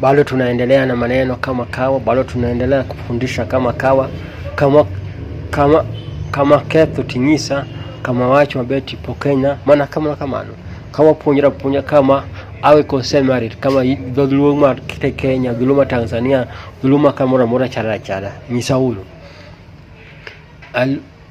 Bado tunaendelea na maneno kama kawa, bado tunaendelea kufundisha kama kawa, kama kama kama ketho tinyisa kama wacho mabeti pokenya mana kamano kamano kama puonjra puonja kama awe kosemari kama dholuo ma kite Kenya dholuo ma Tanzania dholuo ma kamoro amora chara chara nyisa uru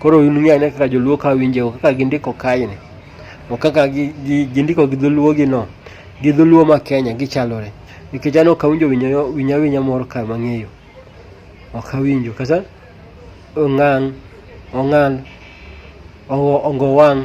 Koro un ng'e ane kaka joluo ka winjo kaka gindiko kaeni. To kaka gindiko gi dholuo gi no, gi dholuo ma Kenya gichalore. Nikech anok awinjo winya winya moro ka mang'eyo. Ok awinjo kata ongang', ongal', ongowang',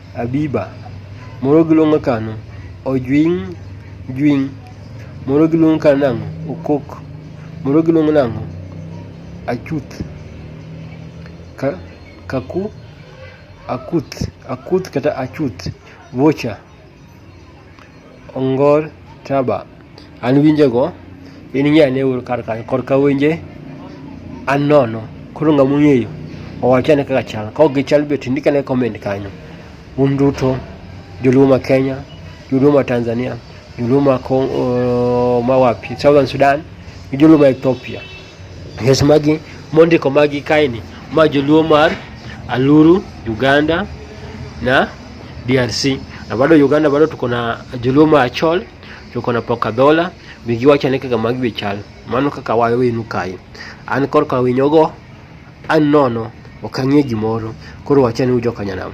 Abiba. Moro giluongo kano ojwing jwing. Moro giluongo kano nang'o okok. Moro giluongo nang'o achuth. Ka, kaku akuth akuth kata achuth vocha ongor taba An winjego in ng'e ane ur kar kanyo korka winje an nono koro ng'a mong'eyo owach ane kaka chal ka ok gichal be to ndik ane comment kanyo un duto joluo ma Kenya joluo ma Tanzania joluo ma Congo ma wapi Southern Sudan gi joluo ma Ethiopia yes magi mondiko magi kaini ma joluo mar Aluru Uganda na DRC na bado Uganda bado tuko na joluo ma Achol Choko na pok adhola, mi giwacho ni kaka magi chal. Mano kaka wayo wenu kae. An korka winyogo, an nono, ok ang'e gimoro. Koro wachane ujokanyanam.